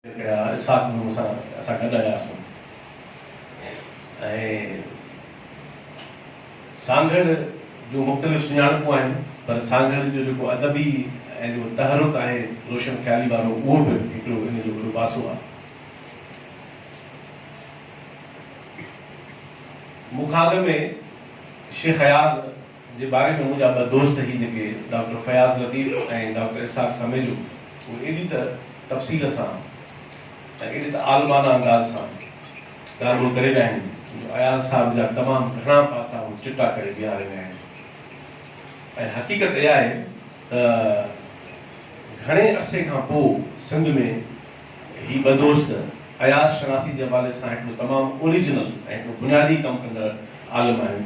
ڪيا اسحاق به مون سان اسان گڏ آياسون ۽ سانگهڙ جون مختلف سڃاڻپون آهن پر سانگهڙ جو جيڪو ادبي ۽ جيڪو تحرڪ آهي روشن خيالي وارو اهو به هڪڙو ان جو وڏو پاسو آهي. مون کان اڳ ۾ شيخ اياز، جي باري ۾ منهنجا ٻه دوست هي جيڪي ڊاڪٽر فياض لطيف ۽ ڊاڪٽر اسحاق سميجو اهي ايڏي ته تفصيل سان ۽ ايڏي ته عالمانه انداز سان ڳالهون ڪري ويا آهن جو اياز صاحب جا تمام گهڻا پاسا هو چٽا ڪري بيهاري ويا آهن ۽ حقيقت اها آهي ته گهڻي عرصي کان پوء سنڌ ۾ هي ٻه دوست اياز شناسي جي حوالي سان هڪڙو تمام اوريجنل ۽ هڪڙو بنيادي ڪم ڪندڙ عالم آهن.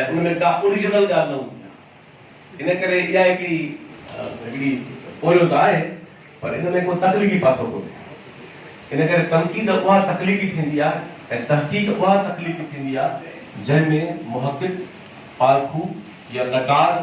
۽ ان ۾ ڪا اوريجنل ڳالهه نه هوندي آهي ان ڪري اها هڪڙي هڪڙي پويو ته آهي پر ان ۾ ڪو تخليقي پاسو ڪونهي ان ڪري تنقيد اها تخليقي ٿيندي آهي ۽ تحقيق اها تخليقي ٿيندي آهي جنهن ۾ محقق پارکو يا نقاد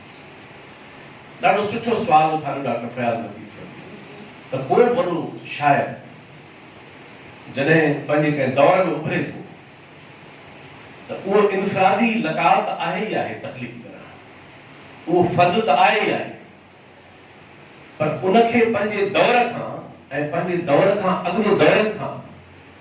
ڏاڍو سٺو سوال اٿاريو ڊاڪٽر فياض لطيف ته ڪو به وڏو شاعر جڏهن پنهنجي ڪنهن دور ۾ اڀري ٿو ته اهو انفرادي لقاء ته آهي ئي آهي تخليقي طرح اهو فرد ته آهي ئي آهي پر ان کي پنهنجي دور کان ۽ پنهنجي دور کان اڳ جي دورن کان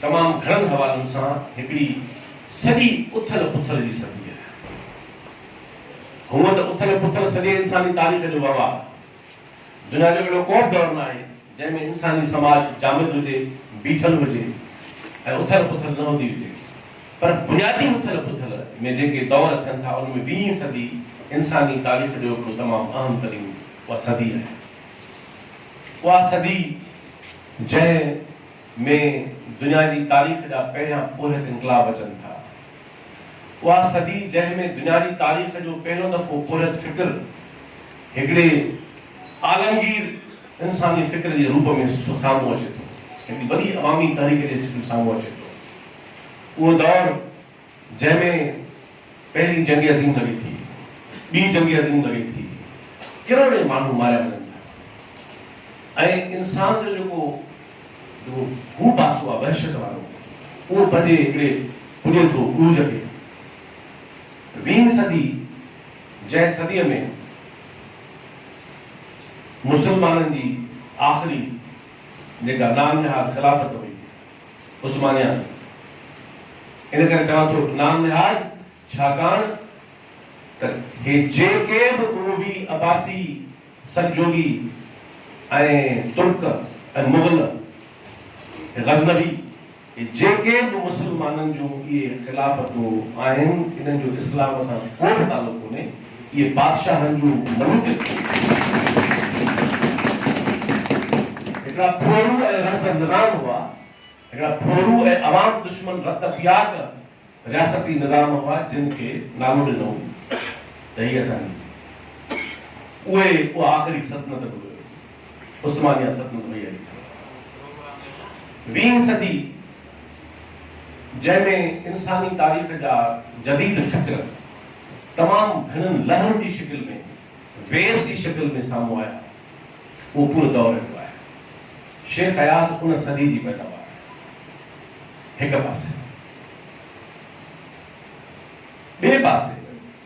تمام گهڻن حوالن سان هڪڙي سڄي اٿل پٿل جي صدي آهي. هونء ته اٿل پٿل سڄي انساني تاريخ جو وهنوار آهي. دنيا جو اهڙو ڪوبه دور ناهي، جنهن ۾ انساني سماج جامد هجي، بيٺل هجي ۽ اٿل پٿل نه هوندي هجي. پر بنيادي اٿل پٿل ۾ جيڪي دور ٿين ٿا، ان ۾ ويهين صدي انساني تاريخ جو هڪڙو تمام اهم ترين اها صدي آهي. اها صدي. جنهن ۾ دنيا جي تاريخ جا پهريان پورهيت انقلاب اچن ٿا. اها صدي جنهن ۾ دنيا جي تاريخ جو پهريون دفعو پورهيت فڪر هڪڙي عالمگير انساني فڪر جي روپ ۾ سامهون اچي ٿو، هڪڙي وڏي عوامي تحريڪ جي شڪل سامهون اچي ٿو. اهو دور. جنهن ۾ پهرين جنگ عظيم لڳي ٿي، ٻي جنگ عظيم لڳي ٿي، ڪروڙين ماڻهو ماريا وڃن ٿا ۽ انسان جو جيڪو هو پاسو آهي وحشت وارو اهو پنهنجي هڪڙي پڄي ٿو عروج کي. ويهين صدي جنهن صديء ۾ مسلمانن جي آخري جيڪا نام نهاد خلافت هئي، عثمانيان ان ڪري چوان ٿو نام نهاد ڇاڪاڻ ته هي جيڪي به اموي، عباسي، سلجوقي ۽ ترڪ ۽ مغل ۽ غزنوي هي جيڪي به مسلمانن جون اهي خلافتون آهن انهن جو اسلام سان ڪو به تعلق ڪونهي. اهي بادشاهن جون ملوڪيتون هيون. هڪڙا ڦورو ۽ رهز نظام هئا. هڪڙا ڦورو ۽ عوام دشمن رت پياڪ رياستي نظام هئا جن کي نالو ڏنو ته هي اسان جي اهي اها آخري سلطنت به هيو. عثمانيه سلطنت وئي هلي ويهين صدي. جنهن ۾ انساني تاريخ جا جديد فڪر تمام گهڻن لهرن جي شڪل ۾، Waves، جي شڪل ۾ سامهون آيا، اهو پورو دور اهو آهي. شيخ اياز ان صدي جي پيداوار آهي. هڪ پاسي. ٻئي پاسي.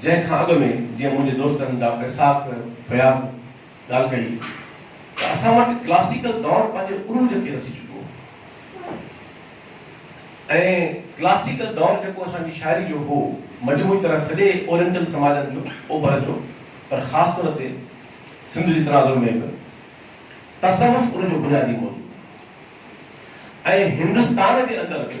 جنهن کان اڳ ۾ جيئن منهنجي دوستن ڊاڪٽر اسحاق فياض ڳالهه ڪئي ته اسان وٽ ڪلاسيڪل دور پنهنجي عروج کي رسي چڪو هو ۽ ڪلاسيڪل دور جيڪو اسان جي شاعري جو هو مجموعي طرح سڄي اورينٽل سماجن جو اوڀر جو پر خاص طور تي سنڌ جي تناظر ۾ به تصوف ان جو بنيادي موضوع هو ۽ هندستان جي اندر به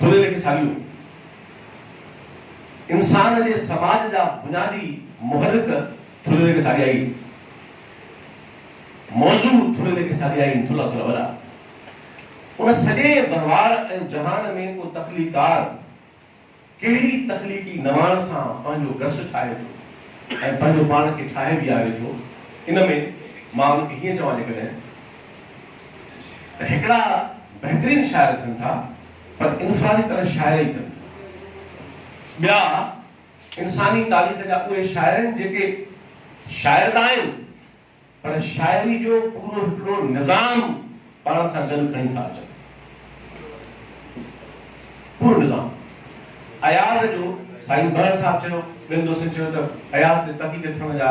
ٿوري لکي ساڳيون انسان جي سماج جا بنيادي محرڪ ٿوري لکي ساڳيائي موضوع ٿوري لکي ساڳيائي ٿلها ٿلها وڏا ان سڄي ڀرواڙ ۽ جهان ۾ ڪو تخليقار ڪهڙي تخليقي نواڻ سان پنهنجو گس ٺاهي ٿو ۽ پنهنجو پاڻ کي ٺاهي بيهاري ٿو ان ۾ مان ان کي هيئن چوان جيڪڏهن ته هڪڙا بهترين شاعر ٿين ٿا پر انفرادي طرح شاعر ئي ٿين ٿا. ٻيا انساني تاريخ جا اهي شاعر آهن جيڪي شاعر ته آهن پر شاعري جو پورو هڪڙو نظام پاڻ سان گڏ کڻي ٿا اچن. پورو نظام. اياز جو سائين بهڙ صاحب چيو، ٻين دوستن چيو ته اياز تي تحقيق ٿيڻ جا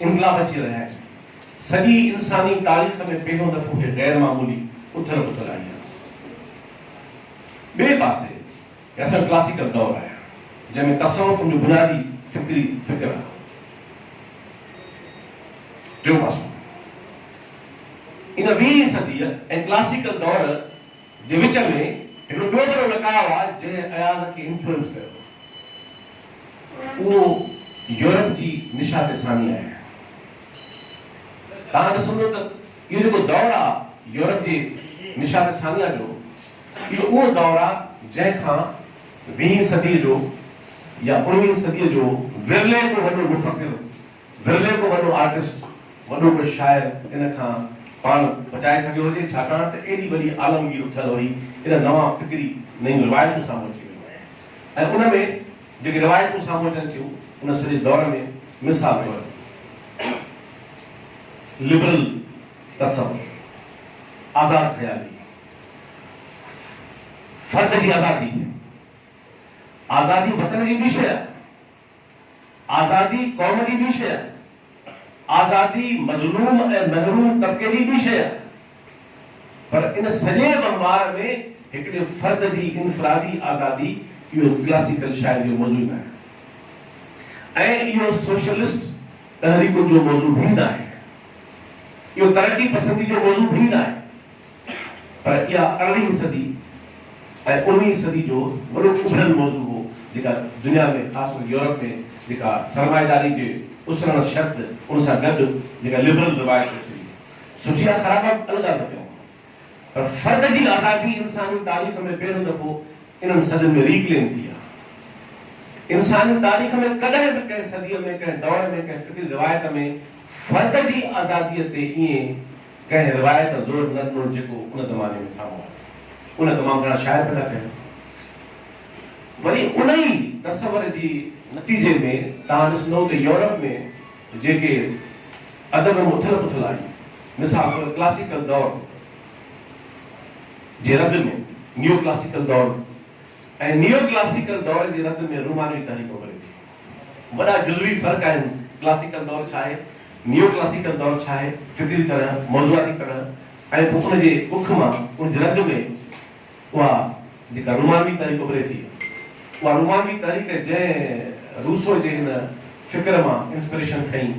انقلاب اچي رهيا آهن. سڄي انساني تاريخ ۾ پهريون دفعو هي غير معمولي اٿل پٿل آئي آهي. ٻئي پاسي هي اسان جو ڪلاسيڪل دور آهي جنهن ۾ تصوف ان جو بنيادي فڪري فڪر آهي. ٽيون پاسو ان ويهين صديء ۽ ڪلاسيڪل دور، جي وچ ۾ هڪڙو ٻيو وڏو لقاء آ جنهن اياز کي انفلوئنس ڪيو اهو يورپ جي نشات ثانيه آهي. توهان ڏسندو ته اهو جيڪو دور آ يورپ جي نشات ثانيه جو اهو اهو دور آ جنهن کان ويهين صدي جو يا اڻويهين صدي جو ورلي ڪو وڏو مفڪر ورلي ڪو وڏو آرٽسٽ، وڏو ڪو شاعر ان کان پاڻ بچائي سگهيو هجي، ڇاڪاڻ ته ايڏي وڏي عالمگير اٿيل هئي، ان نوان فڪري نيون روايتون سامهون اچي ويون آهن ۽ ان ۾ جيڪي روايتون سامهون اچن ٿيون، ان سڄي دور ۾ مثال طور لبرل تصور، آزاد خيالي، فرد جي آزادي، آزادي وطن جي ٻي شيء آهي. آزادي قوم جي ٻي شيء آهي، آزادي مظلوم ۽ محروم طبقي جي ٻي شيء آهي، پر ان سڄي وهنوار ۾ هڪڙي فرد جي انفرادي آزادي اهو ڪلاسيڪل شاعري جو موضوع ئي ناهي ۽ اهو سوشلسٽ تحريڪن جو موضوع به ناهي، اهو ترقي پسندي جو موضوع به ناهي. پر اها ارڙهين صدي ۽ اڻويهين صدي جو وڏو اڀريل موضوع هو جيڪا دنيا ۾ خاص ڪري يورپ ۾ جيڪا سرمائيداري جي اسرڻ شرط ان سان گڏ جيڪا لبرل روايت اٿي هئي. سٺي يا خراب ٻه الڳ الڳ ڳالهيون هون پر فرد جي آزادي انساني تاريخ ۾ پهريون دفعو انهن صدين ۾ ري ڪليم ٿي آهي. انساني تاريخ ۾ ڪڏهن به ڪنهن صديء ۾ ڪنهن دور ۾ ڪنهن فڪري روايت ۾ فرد جي آزاديء تي ائين ڪنهن روايت زور نه ڏنو جيڪو ان زماني ۾ سامهون آيو. ان تمام گهڻا شاعر پيدا ڪيا. وري ان ئي تصور جي نتيجي ۾ توهان ڏسندئو ته يورپ ۾ جيڪي ادب ۾ اٿل پٿل آئي، مثال طور ڪلاسيڪل دور جي رد ۾ نيو ڪلاسيڪل دور ۽ نيو ڪلاسيڪل دور جي رد ۾ رومانوي تحريڪ اڀري ٿي. وڏا جزوي فرق آهن، ڪلاسيڪل دور ڇا آهي، نيو ڪلاسيڪل دور ڇا آهي، فڪري طرح، موضوعاتي طرح ۽ پوء ان جي اک مان ان جي رد ۾ اها جيڪا رومانوي تحريڪ اڀري ٿي، اها رومانوي تحريڪ جنهن روسو جي هن فڪر مان انسپريشن کنئي،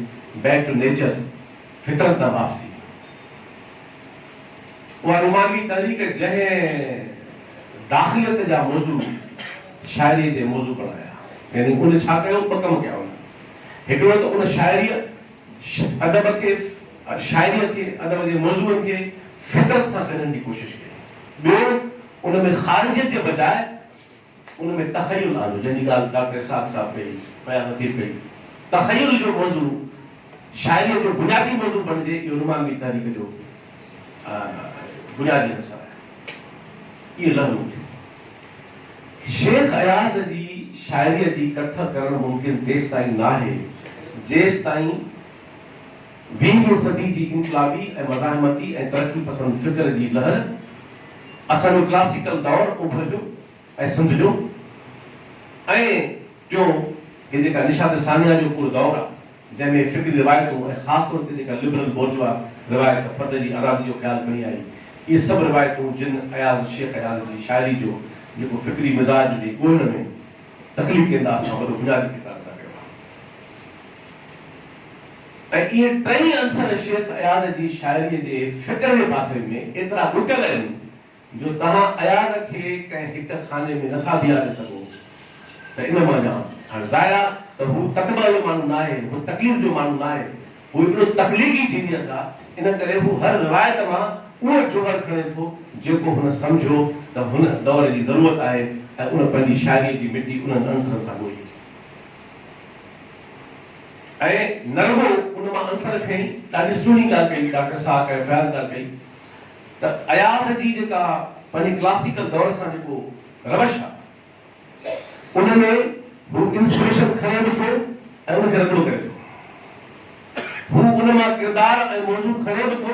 بيڪ ٽو نيچر، فطرت ڏانهن واپسي، اها رومانوي تحريڪ جنهن داخليت جا موضوع شاعريء جي موضوع بڻايا، يعني ان ڇا ڪيو؟ ٻه ڪم ڪيا هن. هڪڙو ته ان شاعريء ادب کي، شاعريء کي، ادب جي موضوعن کي فطرت سان چڏڻ جي ڪوشش ڪئي. ٻيو ان ۾ خارجيت جي بجاء، ان ۾ تخيل آندو، جنهن جي ڳالهه ڊاڪٽر اسحاق صاحب ڪئي، فياض حفيظ ڪئي. تخيل جو موضوع شاعريء جو بنيادي موضوع بڻجي، اهو رومانوي تحريڪ جو بنيادي عنصر آهي. اهي لهرون ٿيون. شيخ اياز جي شاعريء جي ڪٿ ڪرڻ ممڪن تيستائين ناهي، جيستائين. ويهين صدي جي انقلابي ۽ مزاحمتي ۽ ترقي پسند فڪر جي لهر اسان جو ڪلاسيڪل دور اوڀر جو ۽ سنڌ جو ۽ ٽيون هي جيڪا نشاد ثانيه جو پور دور آ جنهن ۾ فڪري روايتون ۽ خاص طور تي جيڪا لبرل بورجوا روايت فرد جي آزادي جو خيال کڻي آئي اهي سڀ روايتون جن اياز شيخ اياز جي شاعري جو جيڪو فڪري مزاج جي ڳوهڻ ۾ تخليقي انداز سان وڏو بنيادي ڪردار ادا ڪيو آ. ۽ اهي ٽئي عنصر شيخ اياز جي شاعريء جي فڪر جي پاسي ۾ ايترا ٻوٽل آهن جو توهان اياز کي ڪنهن هڪ خاني ۾ نٿا بيهاري سگهو ته ان مان جان هاڻ ظاهر آ ته هو تطبع جو ماڻهو ناهي هو تڪليف جو ماڻهو ناهي هو هڪڙو تخليقي جينيئس آ ان ڪري هو هر روايت مان اهو جوهر کڻي ٿو جيڪو هن سمجهيو ته هن دؤر جي ضرورت آهي ۽ ان پنهنجي شاعريء جي مٽي انهن عنصرن سان ڳوئي ۽ نه رڳو ان مان عنصر کڻي ڏاڍي سهڻي ڳالهه ڪئي ڊاڪٽر ساهه ڪيو فياض ڳالهه ڪئي ته اياز جي جيڪا پنهنجي ڪلاسيڪل دور سان جيڪو روش آهي ان ۾ هو انسپريشن کڻي به ٿو ۽ ان کي رد به ڪري ٿو هو ان مان ڪردار ۽ موضوع کڻي به ٿو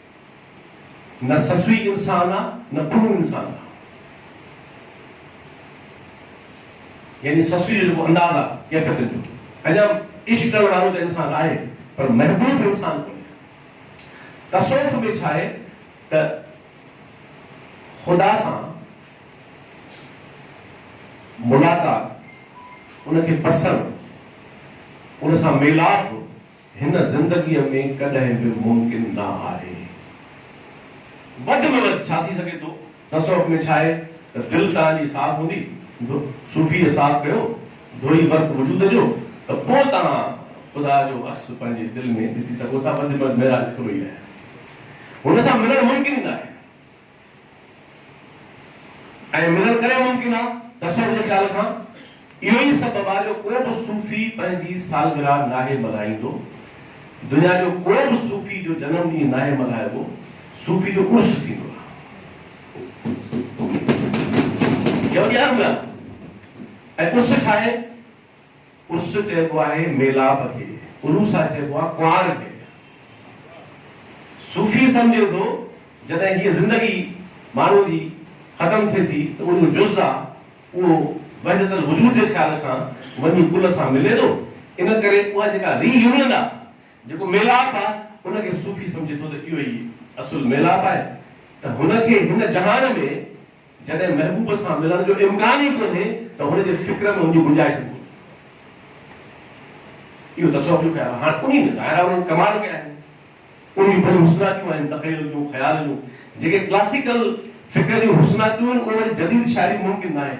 نه سسوي انسان آ نه پنو انسان آ يعني سسوي جو جيڪو انداز آ ڪيفيتن جو اڃا عشق ڪرڻ وارو ته انسان آهي پر محبوب انسان ڪونهي تصوف ۾ ڇا آهي ته خدا سان ملاقات ان کي پسڻ ان سان ميلاپ هن زندگيء ۾ ڪڏهن به ممڪن نه آهي. وڌ ۾ وڌ ڇا ٿي سگهي ٿو؟ تصوف ۾ ڇا آهي ته دل توهان جي صاف هوندي، صوفيء صاف ڪيو، ڌوئي ورق وجود جو، ته پوء توهان خدا جو عڪس پنهنجي دل ۾ ڏسي سگهو ٿا، وڌ ۾ وڌ معراج ايترو ئي آهي. هن سان ملڻ ممڪن ئي نه آهي. ائين ملڻ ڪري ممڪن آ ته اسان جي خيال کان اهو ئي سبب آ جو ڪو به صوفي پنهنجي سالگرهه ناهي ملهائيندو. دنيا جو ڪو به صوفي جو جنم ڏينهن ناهي ملهائبو. صوفي جو عرس ٿيندو آ. اها وڏي اهم ڳالهه آ. ۽ عرس ڇا آهي؟ عرس چئبو آهي ميلاپ کي، عروسه چئبو آهي ڪنوار کي. صوفي سمجهي ٿو جڏهن هيء زندگي ماڻهوء جي ختم ٿئي ٿي ته اهو جز آ اهو وحدت الوجود جي خيال کان وڃي ڪل سان ملي ٿو ان ڪري اها جيڪا ري يونين آ جيڪو ميلاپ آ ان کي صوفي سمجهي ٿو ته اهو ئي اصل ميلاپ آهي ته هن کي هن جهان ۾ جڏهن محبوب سان ملڻ جو امڪان ئي ڪونهي ته هن جي فڪر ۾ هن جي گنجائش ئي ڪونهي. اهو تصوف جو خيال آهي. هاڻ انهيء ۾ ظاهر آهي انهن ڪمال ڪيا آهن. انهن جون پنهنجون حسناڪيون آهن، تخيل جون، خيال جون. جيڪي ڪلاسيڪل فڪر جون حسناڪيون آهن، اهي وري جديد شاعري ۾ ممڪن ناهن.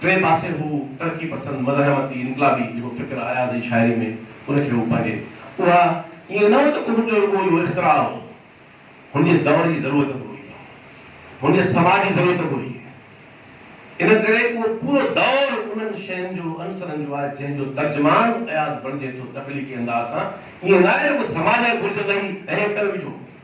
ٽئين پاسي هو ترقي پسند مزاحمتي انقلابي جيڪو فڪر اياز جي شاعري ۾ ان کي هو پنهنجي اها ائين نه هو ته هن جو رڳو اهو اختراع هو هن جي دؤر جي ضرورت به هئي هن جي سماج جي ضرورت به هئي ان ڪري اهو پورو دؤر انهن شين جو عنصرن جو آهي جنهن جو ترجمان اياز بڻجي ٿو تخليقي انداز سان ائين نه آهي رڳو سماج جي گهرج لاء هي ٺهيو ويٺو هو.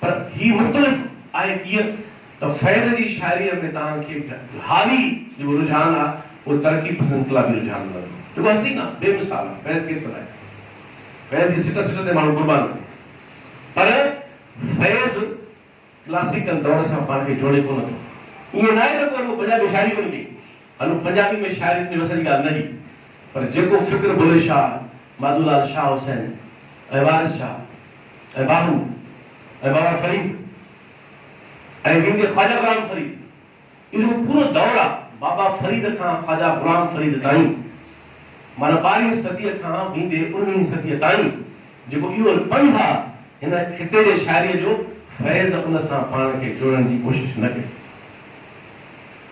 پر هي مختلف آهي ڪيئن ته فيض جي شاعريء ۾ توهان کي حالي جيڪو رجحان آهي اهو ترقي پسند انقلابي رجحان ملندو جيڪو حسين آهي بي مثال آهي فيض کي سڏائي فيض جي سٽ سٽ تي ماڻهو قربان ڪن پر فيض ڪلاسيڪل دور سان پاڻ کي جوڙي ڪونه ٿو ائين ناهي ته پوء هن پنجابي شاعري ڪونه ڪئي هن پنجابي ۾ شاعريت جي وس جي ڳالهه نه هئي، پر جيڪو فڪر بلهي شاهه، مادو لال، شاهه حسين ۽ وارث شاهه ۽ باهو ۽ بابا فريد ۽ ويندي خواجه غلام فريد، اهو پورو دور آ، بابا فريد کان خواجه غلام فريد تائين، معنيٰ ٻارهين صديء کان ويندي اڻويهين صديء تائين، جيڪو اهو پنڌ آ، هن خطي جي شاعريء جو فيض ان سان پاڻ کي جوڙڻ جي ڪوشش نه ڪئي.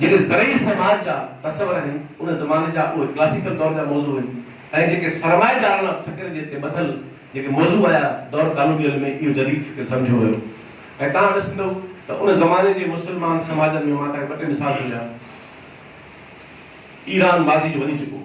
جيڪي زرعي سماج جا تصور آهن، ان زماني جا اهي ڪلاسيڪل دور جا موضوع آهن ۽ جيڪي سرمائيداراڻا فڪر جي تي ٻڌل جيڪي موضوع آيا، دور ڪالونيل ۾ اهو جديد فڪر سمجهيو ويو ۽ توهان ڏسندؤ ته ان زماني جي مسلمان سماجن ۾ مان توهان کي ٻه ٽي مثال ٿو ڏيان ايران ماضي جو وڃي چڪو هو.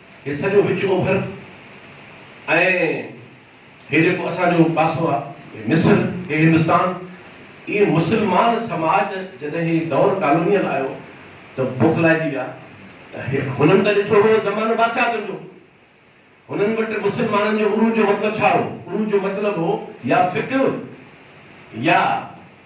هي سڄو وچ اوڀر ۽ هي جيڪو اسان جو پاسو آ هي مصر، هي هندستان، اهي مسلمان سماج جڏهن هي دور ڪالونيل آيو ته بوکلائجي ويا ته هنن ته ڏٺو هو زمانو بادشاهتن جو، هنن وٽ مسلمانن جو عروج جو مطلب ڇا هو؟ عروج جو مطلب هو يا فقه يا.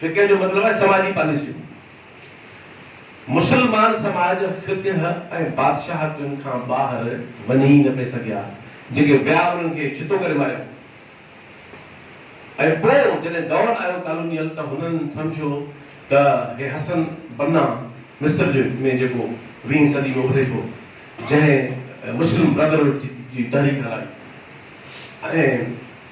فقه جو مطلب آهي سماجي پاليسيون. مسلمان سماج فقه ۽ بادشاهتن کان ٻاهر وڃي ئي نه پئي سگهيا. جيڪي ويا انهن کي ڇتو ڪري ماريائون ۽ پوء جڏهن دور آيو ڪالونيل ته هنن سمجهيو ته هي حسن بنا مصر جو ۾ جيڪو ويهين صدي ۾ اڀري ٿو جنهن مسلم برادرهوڊ جي تحريڪ هلائي ۽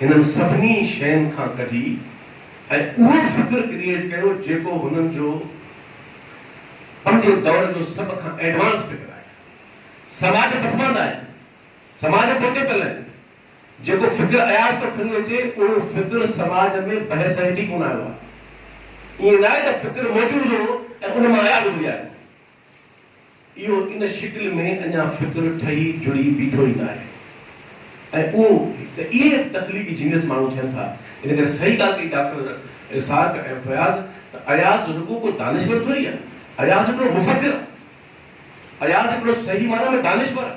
هنن سڀني شين کان ڪڍي ۽ اهو فڪر ڪريئيٽ ڪيو جيڪو هنن جو پنهنجي دور جو سڀ کان ايڊوانس فڪر آهي. سماج پسماند آهي، سماج پوئتي پيل آهي، جيڪو فڪر اياز ٿو کڻي اچي اهو فڪر سماج ۾ بحث هيٺ ئي ڪونه آيو آهي. ائين ناهي ته فڪر موجود هو ۽ ان مان اياز اڀري آيو. اهو ان شڪل ۾ اڃا فڪر ٺهي جڙي بيٺو ئي ناهي ۽ اهو هڪ ته اهي هڪ تخليقي جينيس ماڻهو ٿين ٿا. ان ڪري صحيح ڳالهه ڪئي ڊاڪٽر اسحاق ۽ فياض ته اياز رڳو ڪو دانشور ٿوري آهي. اياز هڪڙو مفڪر آهي. اياز هڪڙو صحيح معنيٰ ۾ دانشور آهي.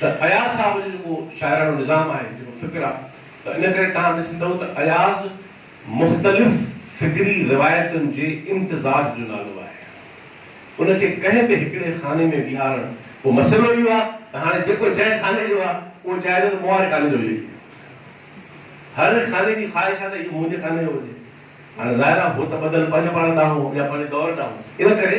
ته اياز صاحب جو جيڪو شاعراڻو نظام آهي، جيڪو فڪر آهي، ته ان ڪري تهان ڏسندؤ ته اياز مختلف فڪري روايتن جي امتزاج جو نالو آهي. ان کي ڪنهن به هڪڙي خاني ۾ بيهارڻ، پوء مسئلو اهو آهي ته هاڻي جيڪو جنهن خاني جو آهي، اهو چاهي ٿو ته مون واري خاني جو به لکي. هر خاني جي خواهش آهي ته اهو منهنجي خاني جو هجي. هاڻي ظاهر آهي هو ته ٻڌل پنهنجو پاڻ ڏانهن هو يا پنهنجي دور ڏانهن هو. ان ڪري.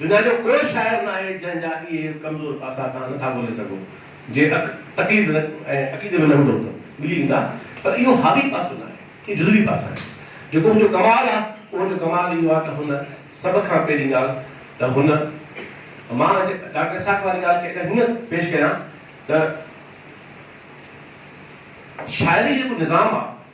دنيا جو ڪو شاعر ناهي جنهن جا اهي ڪمزور پاسا توهان نه ٿا ڳولي سگهو، جي تقليد ۽ عقيدي ۾ نه هوندؤ ته ملي ويندا، پر اهو حاوي پاسو ناهي، اهي جزوي پاسا آهن، جيڪو هن جو ڪمال آهي، اهو جو ڪمال اهو آهي ته هن سڀ کان پهرين ڳالهه ته هن مان ڊاڪٽر اسحاق واري ڳالهه کي اگر هيئن پيش ڪيان ته شاعري جو جيڪو نظام آهي،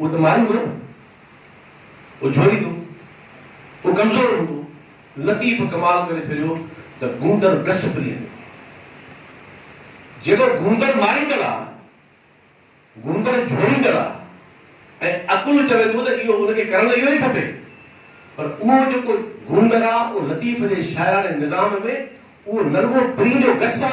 اهو ته ماري هوندو نه. اهو جهوليندو. اهو ڪمزور هوندو. لطيف ڪمال ڪري ڇڏيو ته گوندر گس پرينء جو جيڪو گوندر ماريندڙ آ، گوندر جهوليندڙ آ ۽ عقل چوي ٿو ته اهو ان کي ڪرڻ اهو ئي کپي پر اهو جيڪو گوندر آ اهو لطيف جي شاعراڻي نظام ۾ اهو نه رڳو پرينء جو گس آ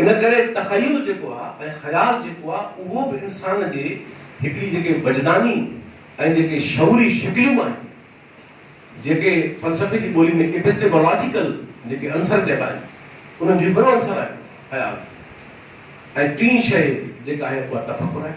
ان ڪري تخيل جيڪو آ ۽ خيال جيڪو آ اهو به انسان جي هڪڙي جيڪي وجداني ۽ جيڪي شعوري شڪليون آهن جيڪي فلسفي جي ٻولي ۾ Epistemological جيڪي عنصر چئبا آهن انهن جو هڪڙو عنصر آهي خيال ۽ ٽين شيء جيڪا آهي اها تفڪر آهي.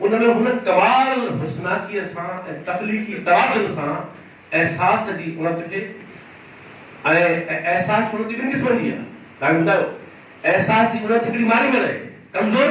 ان ۾ هن ڪمال الحسناڪيء سان ۽ تخليقي توازن سان احساس جي اڻت کي ۽ احساس جي اڻت ٻن قسمن جي آهي، تنهن ٻڌايو، احساس جي اڻت هڪڙي ماري ملئي، ڪمزور،